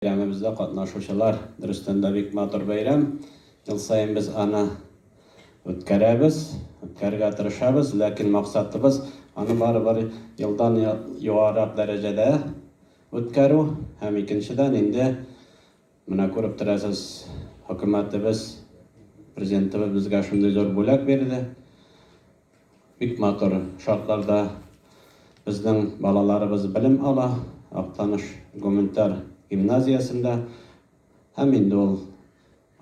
Бәйрәмебездә катнашучылар, дөрестән дә, бик матур бәйрәм. Ел саен без аны үткәрәбез, үткәрергә тырышабыз, ләкин максатыбыз, аны барыбер елдан югарырак дәрәҗәдә үткәрү. Һәм икенчедән инде, менә күреп торасыз, хөкүмәтебез, Президентыбыз безгә шундый зур бүләк бирде. Бик матур шартларда безнең балаларыбыз белем ала, Актаныш гуманитар гимназиясендә. Һәм инде ул,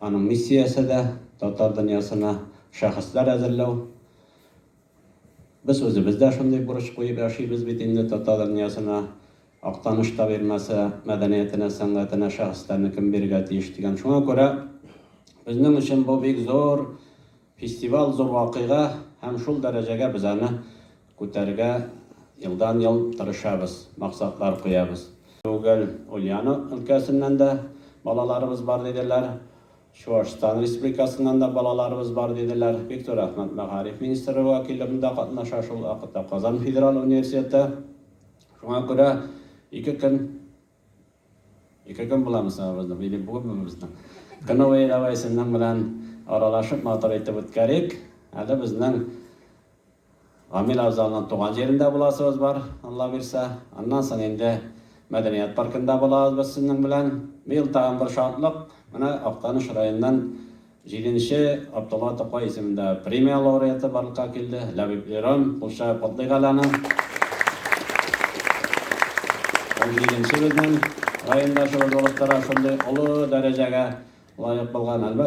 аның миссиясе дә, татар дөньясына шәхесләр әзерләү. Без үзебез дә шундый бурыч куеп яшибез бит инде татар дөньясына, Актаныш табигмасы, мәдәниятенә, сәнгатенә шәхесләрне кем бирергә тиеш дигән. Шуңа күрә безнең өчен бу бик зур. Фестиваль зур вакыйга һәм шул дәрәҗәгә без аны күтәрергә елдан-ел тырышабыз, максатлар куябыз. Түгел, Ульяно өлкәсеннән дә балаларыбыз бар диделәр, Чуашстан Республикасыннан да балаларыбыз бар диделәр. Бик зур рәхмәт, мәгариф министры вәкиллеге дә катнаша шул вакытта, Казан федераль университеты. Шуңа күрә ике көн Ике көн буламы соң абызның, или бүгенме безнең кыновые, давай сезнең белән аралашып матур итеп үткәрик. Әле безнең Гамил абзалның туган җирендә буласыбыз бар, Алла бирсә. Аннан соң инде мәдәният паркында булабыз без сезнең белән. Быел тагын бер шатлык, менә Актаныш районыннан Җиденче Габдулла Тукай исемендә премия лауреаты барлыкка килде, Ләбиб Иран, кулча котлыйк әле аны. Ул җиденче безнең райондашыбыз булып тора, шундый олы дәрәҗәгә лаек булган, әлбәттә.